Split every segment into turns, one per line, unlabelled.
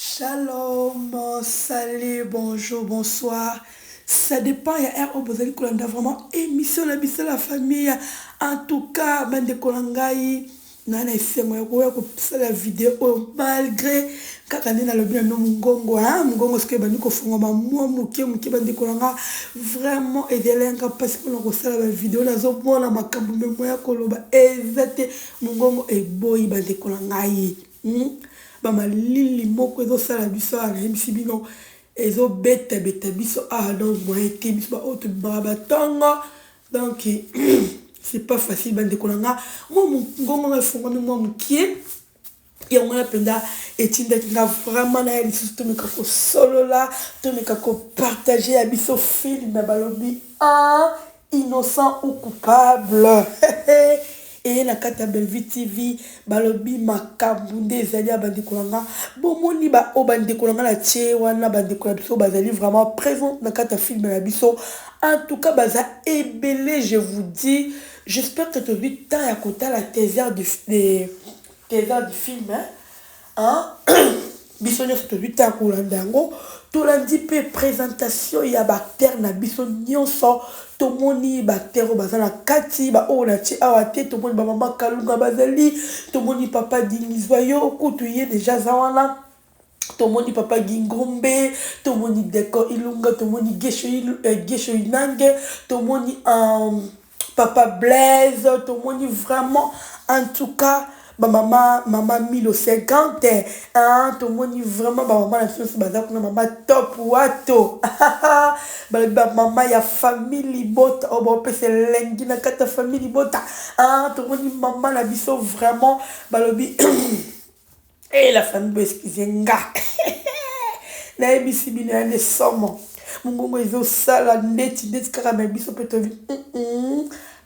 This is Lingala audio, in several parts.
Shalom salut bonjour bonsoir ça depend ya heure oyo bozali kolanda vraiment emission na biso la famille en tout cas ba ndeko na ngai na na esengo ya koya kosala video oyo malgré kaka nde nalobi na bino mongongo hein mongongo soki ebandi kofongama mwa moke moke ba ndeko na nga vraiment ezali ya nga mpasi mpona kosala ba video nazomona makambo me moya koloba eza te mongongo eboyi ba ndeko na ngai Hum ba malili moko ezo sala biso awa nayebisi bino ezo beta beta biso awa donc moyen te biso ba oyo tobimaka ba tongo donc c'est pas facile ba ndeko na nga mwa ngongo nga efongwami mwa mokie yango wana mpenza etindaki nga vraiment naya lisusu tomeka kosolola tomeka kopartage ya biso filme balobi ah Innocent ou coupable heheheeee na kati ya Bellevue TV balobi makambu nde ezali ya bandeko na nga bomoni ba oyo bandeko na nga na tie wana bandeko na biso bazali vraiment presente na kati ya film na biso en tout cas baza ebele je vous dis j'espère que tozui temps ya kotala teaser du film. Aah biso nionso tozui temps ya kolanda yango tolandi pe presentation ya ba acteurs na biso nionso tomoni ba acteurs oyo baza na kati ba oyo natie awa te tomoni ba maman kalunga bazali tomoni papa dingizuayo kutu ye dejà aza wana tomoni papa gingombe tomoni deco ilunga tomoni guesho inange tomoni ahh Papa Blaise tomoni vraiment en tout cas ba mama mama Milo c'est grand hein hein tomoni vraiment ba mama na biso nso baza kuna mama top wato balobi ba mama ya famille libota oyo baopesa elengi na kati ya famille libota hein tomoni mama na biso vraiment balobi Hee la famille bo excuse nga nayebisi bino ya nde somo mungongo ezo sala ndeti ndeti kaka mais biso pe to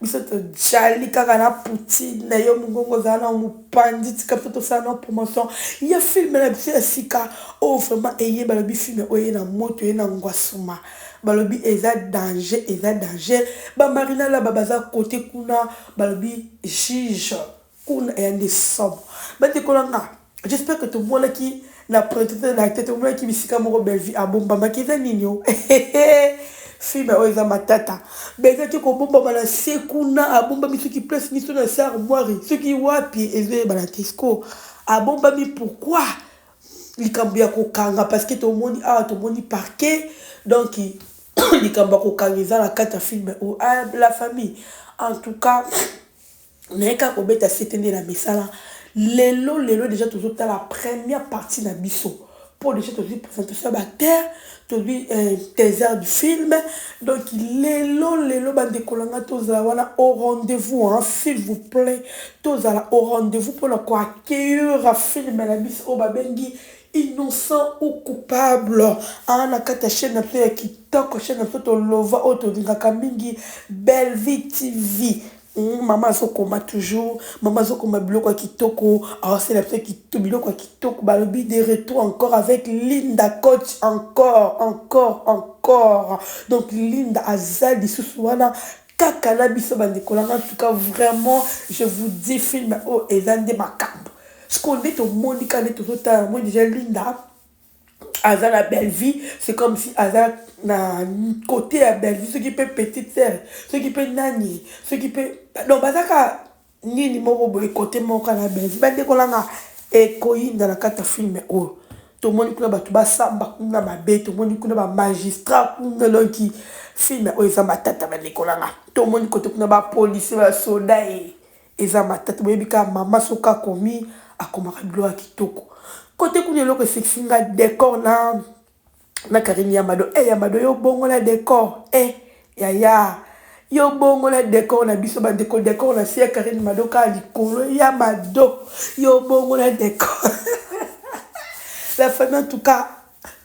biso to jali kaka na poutine na yo mungongo ozala na mupanzi tika biso tosala na promotion ya film na biso ya sika oyo vraiment eye balobi film oye na moto eye na ngwasuma balobi eza danger eza danger ba marina laba baza kote kuna balobi juge Kuna eya nde somo ba ndeko na nga j'espère que tomonaki na presentation na tete omonaki bisika moko Bellevue abombamaki eza nini oh eheheh film oyo eza matata Bellevue ake kobombama na se kuna abombami soki place miso na se armoire soki wapi ezo yebana te sikoyo abombami pourquoi likambo ya kokanga parce que tomoni awa tomoni parquet donc likambo ya kokanga eza na kati ya film oyo ah la famille en tout cas naye kaka kobeta sete nde na misala lelo lelo dejà tozo tala première partie na biso po dejà tozui presentation ya ba acteur tozui teiser du film donc lelo lelo ba ndeko na nga tozala wana au rendez vous hein s'il vous plait tozala au rendez vous pona ko accueillir film na biso oyo ba bengi innocent ou coupable hein na kati ya chaine na biso ya kitoko chaine na biso to lova oyo tolingaka mingi Bellevue TV Hum maman azo koma toujours maman azo koma biloko ya kitoko azo sala biso kito biloko ya kitoko ba lobi de retour encore avec Linda coach encore encore encore donc Linda aza lisusu wana kaka na biso ba ndeko nanga en tout cas vraiment je vous dis film oyo eza nde makambu sikoyo nde tomoni kaka nde tozo tala yango dejà Linda aza na Bellevue c'est comme si aza na côté ya Bellevue soki pe petite sœur soki pe nani soki pe donc baza ka nini moko boye côté moko ka na Bellevue ba ndeko na nga ekoyinda na kati ya film oyo tomoni kuna bato basamba kuna mabe tomoni kuna ba magistrat kuna elonki film oyo eza matata ba ndeko na nga tomoni kote kuna ba policier ba soda ye Eza matata boyebi kaka maman soki akomi akomaka biloko ya kitoko cote kuna eloko esekisi nga decor na na carine ya mado eh ya mado yo bongo na decor eh yaya yo bongo na decor na biso ba ndeko decor na si ya carine mado ka likolo ya mado yo bongo na decor la famille en tout cas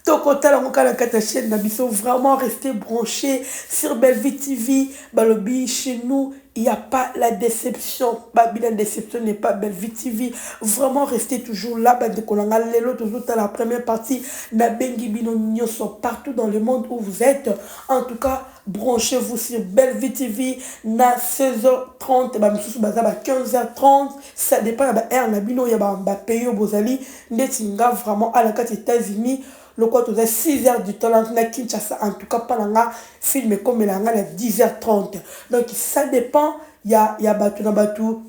Toko tala ngo kaka na kati ya chaine na biso vraiment reste branche sur Bellevue TV balobi chez nous il ya pas la deception ba bina deception n'est pas Bellevue TV vraiment reste toujours là ba ndeko na nga lelo tozo tala première partie na bengi bino nioso partout dans le monde où vous etes en tout cas branche vous sur Bellevue TV na 16h30 ba misusu baza ba 15h30 ça depend ya ba heure na bino ya ba pays oyo bozali Ndeti nga vraiment awa na kati etats unis lokola toza 6 heures du temps na kinshasa en tout cas pa na nga film ekomelaka nga na 10 heures 30 donc ça depend ya ya batu na batu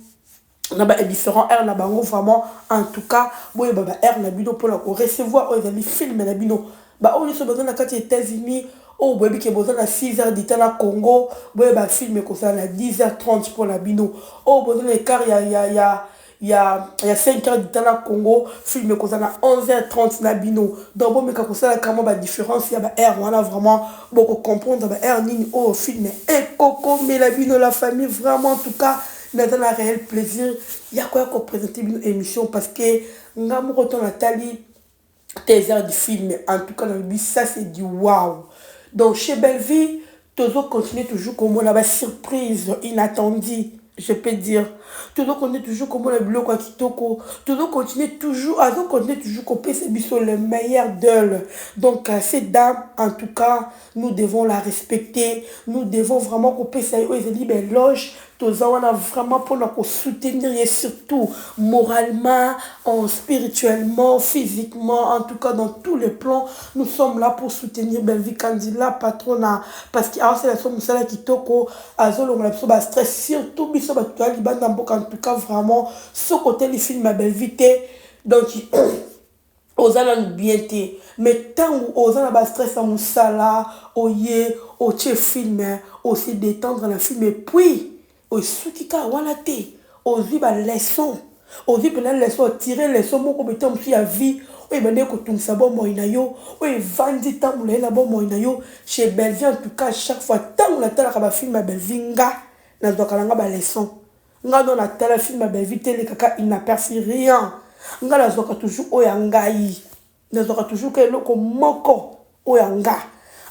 na ba differents heures na bango vraiment en tout cas boyeba ba heures na bino pona ko recevoir oyo ezali film na bino ba oyo nioso baza na kati etats unis oyo boyebi ke boza na 6 heures du temps na congo boyeba film ekozala na 10 heures 30 pona bino oyo boza na ecart ya ya ya ya ya 5 heures du temps na Congo film ekoza na 11 heures 30 na bino donc bomeka kosala ka mwa ba difference ya ba heures wana vraiment boko comprendre ba heures nini oyo film ekokomela bino la famille vraiment en tout cas naza na réel plaisir ya koya ko presenter bino emission parce que nga moko temps natali te eza ya di film en tout cas na lobi ça c'est du wow donc chez Bellevue tozo continuer toujours komona ba surprise inattendue je peux dire tozo continuer toujours komona biloko ya kitoko tozo continuer toujours azo continuer toujours kopesa biso le meilleur d'elle donc euh, cette dame en tout cas nous devons la respecter nous devons vraiment kopesa ye oyo ezali ba éloge Toza wana vraiment pona ko soutenir ye surtout moralement, en spirituellement, physiquement en tout cas dans tous les plans nous sommes là pour soutenir Bellevue Kandy la patronna parce que aosala biso musala kitoko azo longola biso ba stress surtout biso batu toza libanda ya mboka en tout cas vraiment soki oteli film ya Bellevue te donc oza nanu bien te mais tangu oza na ba stress ya musala oye otie film o se detendre na film puis esuki kaka wana te ozui ba leçon ozui penza leçon o tire leçon moko boye tangu mususu ya vie oyo ebandaki ko tungisa bomoi nayo oyo evandi tangu mulayi na bomoi nayo chez Bellevue en tout cas chaque fois tangu na talaka ba film ya Bellevue nga nazuaka na nga ba leçon. Nga no na tala film ya Bellevue te eleka ka inaperci rien nga na zwaka toujours oyo ya ngayi na zwaka toujours ka eloko moko oyo ya nga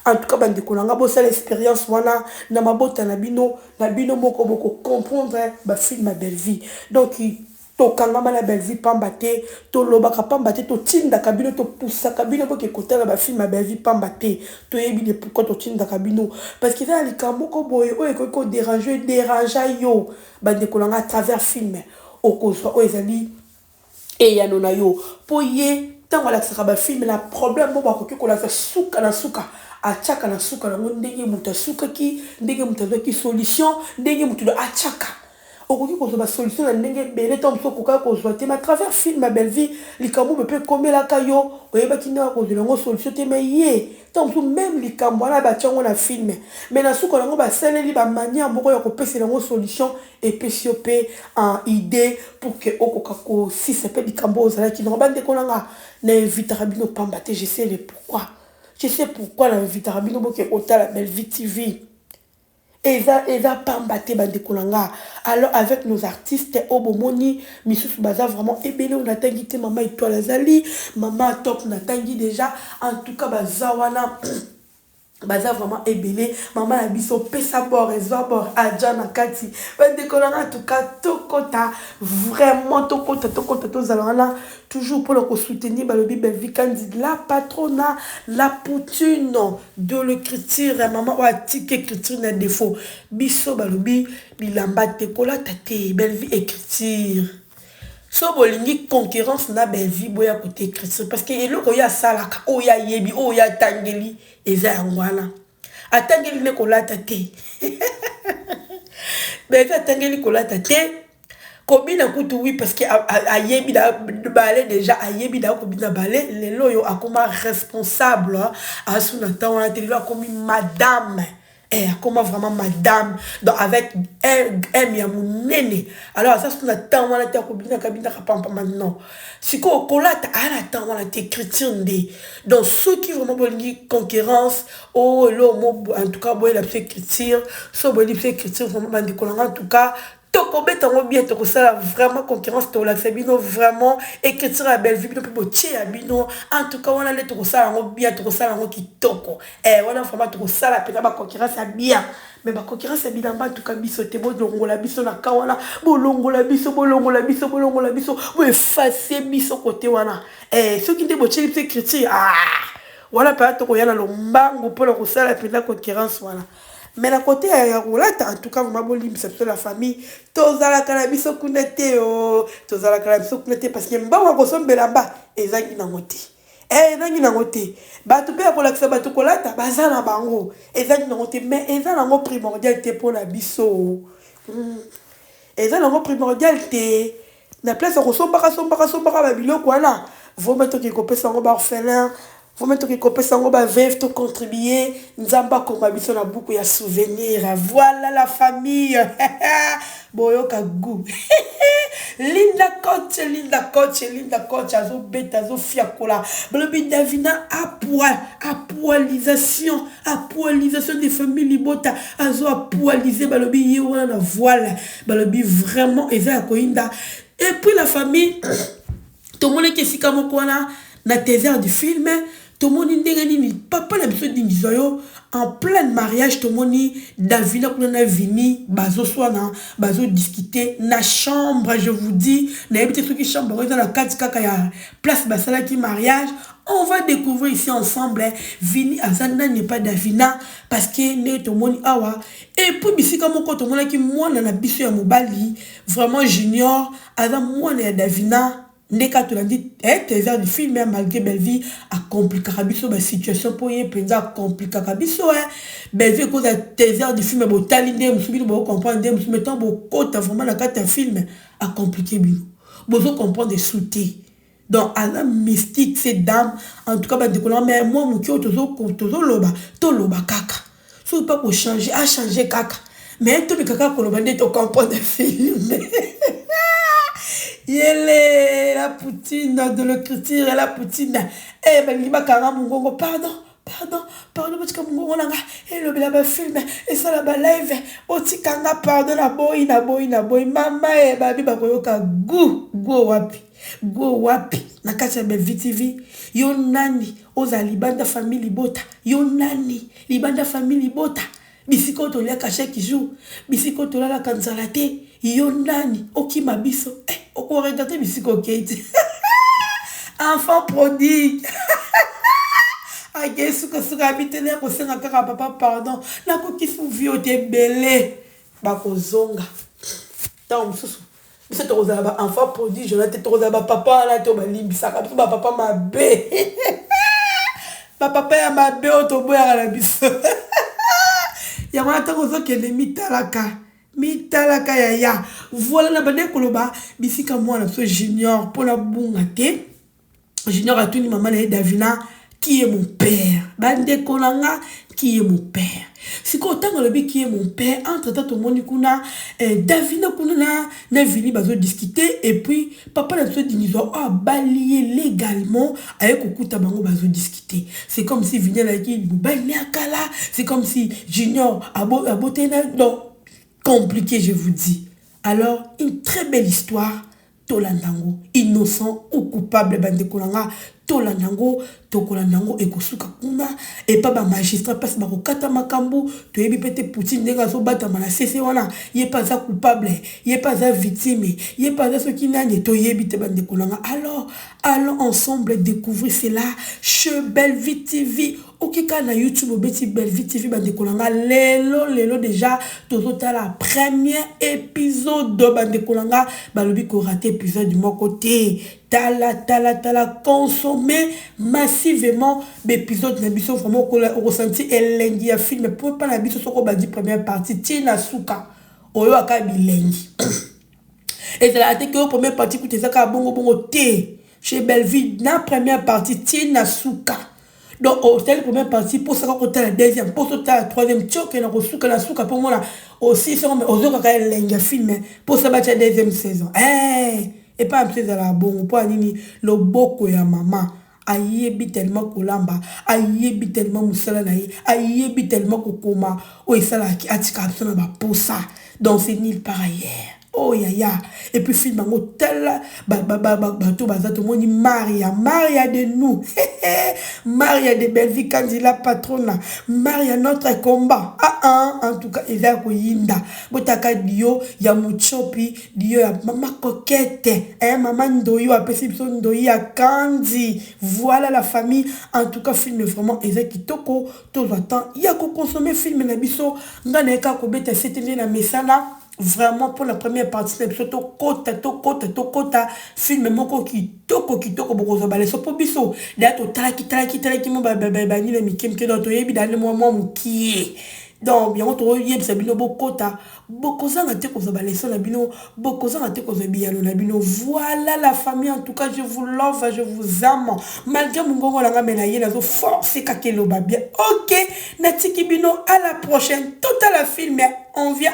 en tout cas ba ndeko na nga bo sala experience wana na mabota na bino na bino moko bo ko comprendre ba film ya Bellevue donc to kangama na Bellevue pamba te to lobaka pamba te to tindaka bino to poussaka bino bo ke ko tala ba film ya Bellevue pamba te Toyebi de pourquoi totindaka bino parce que eza na likambo moko boye oyo ekoki ko derange derangea yo bandeko na ngai à travers film okozwa oyo ezali eyano na yo mpo ye ntango alakisaka ba film na problème moko akoki kolakisa suka na suka atiaka na suka na yango ndenge moto asukaki ndenge moto azwaki solution ndenge moto atiaka Okoki kozwa ba solutions na ndenge ebele tango mosusu okokaki kozwa te mais à travers film ya Bellevue likambo oyo pe ekomelaka yo oyebaki ndenge ya kozwela yango solution te mais ye tango mosusu meme likambo wana batia yango na film mais na suka na yango basaleli ba manière moko ya kopesela yango solution epesi yo pe un idee pour que okoka kosisa pe likambo oyo ozalaki na yango. Ba ndeko na nga na invitaka bino pamba te je sais le pourquoi je sais pourquoi na invitaka bino boke kotala Bellevue TV. Eza eza pamba te bandeko na nga alors avec nos artistes oyo bomoni misusu baza vraiment ebele oyo natangi te maman etoile azali maman top natangi dejà en tout cas baza wana baza vraiment ebele maman na biso pesa bord ezwa bord aja na kati bandeko na nga en tout cas tokota vraiment tokota tokota tozala wana toujours pona ko soutenir balobi Bellevue Kandy la patrona la poutine De l'ecriture maman oyo atiki ecriture na defaut biso balobi bilamba te kolata te bellevue ecriture soki bolingi concurrence na bellevue boya kote ecriture parce que eloko ye asalaka oyo ye ayebi oyo ye atangeli eza yango wana atangeli ne kolata te bellevue atangeli kolata te kobina kutu oui parce que ayebi na ballet déjà ayebi na kobina ballet lelo yo akoma responsable asu na temps wana te lelo akomi madame eh akoma vraiment madame donc avec m ya monene alors aza su na temps wana te akobina kabina kapampa maintenant sikoyo kolata aya na temps wana te chrétien nde donc soki vraiment bolingi concurrence o elo mo en tout cas boyela biso écriture so boyebi biso écriture vraiment bandeko na nga en tout cas Toko beta ngo bien toko sala vraiment concurrence toko lakisa bino vraiment écriture ya Bellevue bino pe botie ya bino en tout cas wana nde toko sala ngo bien toko sala ngo kitoko eh wana vraiment toko sala pena ba concurrence ya bien mais ba concurrence ya bilamba en tout cas biso te bolongola biso na ka wana bolongola biso bolongola biso bolongola biso bo effacer biso côté wana eh soki nde botie biso écriture ah wana pena toko ya na lombangu pona kosala pena concurrence wana Mais na cote ya ya kolata en tout cas vraiment bolimbisa biso la famille tozalaka na biso kuna te oo tozalaka na biso kuna te parce que mbongo ya kosomba elamba ezangi nango te eh, ezangi nango te bato mpe ya kolakisa bato kolata baza na bango ezangi nango te mais eza nango primordial te mpo na biso hmm. eza nango primordial te Na place ya kosombaka sombaka sombaka ba biloko wana, vaut mieux toke kopesa yango ba orphelins, vaut mieux toke kopesa yango ba veuves, to contribuer, Nzambe akoma biso na buku ya souvenir. Voilà la famille! Boyoka gout! Linda Coach, Linda Coach, Linda Coach azobeta, azofiakola. Balobi Davina apua, apualisation, apualisation de famille libota, azo apualiser balobi ye wana na voile. Balobi vraiment eza ya koyinda et puis la famille tomonaki esika moko wana na tezer du film tomoni ndenge nini papa na biso dingizwa yo en pleine mariage tomoni davina kuna na vini bazoswana bazodiskute na chambre je vous dis nayebi te soki chambre yango eza na kati kaka ya place basalaki mariage on va découvrir ici ensemble vini aza nani epa davina parce que nde tomoni awa Et puis bisika moko tomonaki mwana na biso ya mobali vraiment junior aza mwana ya davina nde ka tolandi eh, trésor du film eh, malgré bellevue akomplikaka biso ba situation mpo ye mpenza akomplikaka biso eh. bellevue ekoza trésor du film botali nde mosusu bino bokokomprendre nde mosusu metan bokota vraiment na kati ya film akomplike bino bozo comprendre su te Donc aza mystique ce dame en tout cas ba ndeko nanga mais mua mukie oyo tozo tozo loba to loba kaka soki pe ako changer a changer kaka mais to meka kaka koloba nde to comprendre film yelee la poutine de l'ecriture la poutine eh balingi bakanga mongongo pardon pardon pardon botika mongongo na nga elobela bafilme esala balive botika nga pardon naboyi naboyi naboyi mama e babi bakoyoka gu gu wapi Go wapi na kati ya bellevue TV yo nani ozala libanda famille libota yo nani libanda famille libota bisika oyo toliaka chaque jour bisika oyo tolalaka nzala te yo nani okima biso eh, okoregate bisika okei te enfant prodigue ake sukasuka ya bitele ya kosenga kaka papa pardon nakoki fuvi oyo te ebele bakozonga ntango mosusu Biso tokozala ba enfants prodiges wana te tokozala ba papa wana te oyo balimbisaka biso ba papa mabe ba papa ya mabe oyo toboyaka na biso yango wana ntango ozokende mitalaka mitalaka yaya voila na bandeki koloba bisika mwana biso junior mpo nabunga te junior atuni mama na ye davina kie mon père bandeko na nga kie mon père sikoyo ntango alobi kie mon père entre temps tomoni kuna eh, davina kuna na, na vini bazodiskute epuis papa na biso dingizwa oyo abali ye légalement aye kokuta bango bazodiskute c'est comme si vini alaki mobali ne akala c'est comme si junior abo, aboteli na donc compliqué je vous dis alors une très belle histoire Tolanda ngo innocent ou coupable ba ndeko na nga tolanda ngo tokolanda ngo ekosuka kuna epa ba magistrat place bako kata makambu toyebi pe te poutine ndenge azo batama na se se wana ye pe aza coupable ye pe aza victime ye pe aza soki nani toyebi te ba ndeko na nga alors allons ensemble decouvrir cela chez Bellevue TV. Oke kaka na YouTube obeti Bellevue TV ba ndeko na nga lelo lelo deja tozo tala premier episode ba ndeko na nga balobi ko rater episode moko te tala tala tala consommer massivement ba episode na biso vraiment oko sentir elengi ya film po pa na biso soko bandi première partie ti na suka oyo aka bilengi ezalaka te ke oyo première partie kutu eza kaka bongo bongo te chez Bellevue na première partie ti na suka donc otali première partie mposa kaka otala deuxième mposa otala troisième tioke na kosuka na suka mpo omona osilisi yango me ozokaka elengi ya filme mposa batya deuxième saison e epai mpe ezalaka bongo mpo ya nini loboko ya mama ayebi telema kolamba ayebi telema mosala na ye ayebi telema kokoma oyo esalaki atika biso na baposa donc c'est nil par ailleurs Oh yaya et puis film yango tala bato baza tomoni maria maria de nous maria de bellevie kanzi la patrona maria notre combat aa ah, ah, en tout cas eza ya koyinda botaka dio ya muchopi dio ya mama kokete eh, mama ndoyi apesi biso ndoyi ya kanzi voilà la famille en tout cas film vraiment eza kitoko tozwa temps ya kokonsome film na biso ngai nayeka kobeta sete nde na mesana vraiment pour la première partie na biso tokota tokota tokota filme moko kitoko kitoko bokozwa baleso mpo biso daya totalaki talaki talaki mo banini na mike mike donc toyebi dani mwa mwa mokie donc yango toyebisa bino bokota bokozanga te kozwa baleso na bino bokozanga te kozwa biyano na bino voilà la famille en tout cas je vous love je vous ame malgré mongongo na nga me na ye nazo force kaka eloba bien ok natiki bino à la prochaine totala filme on vient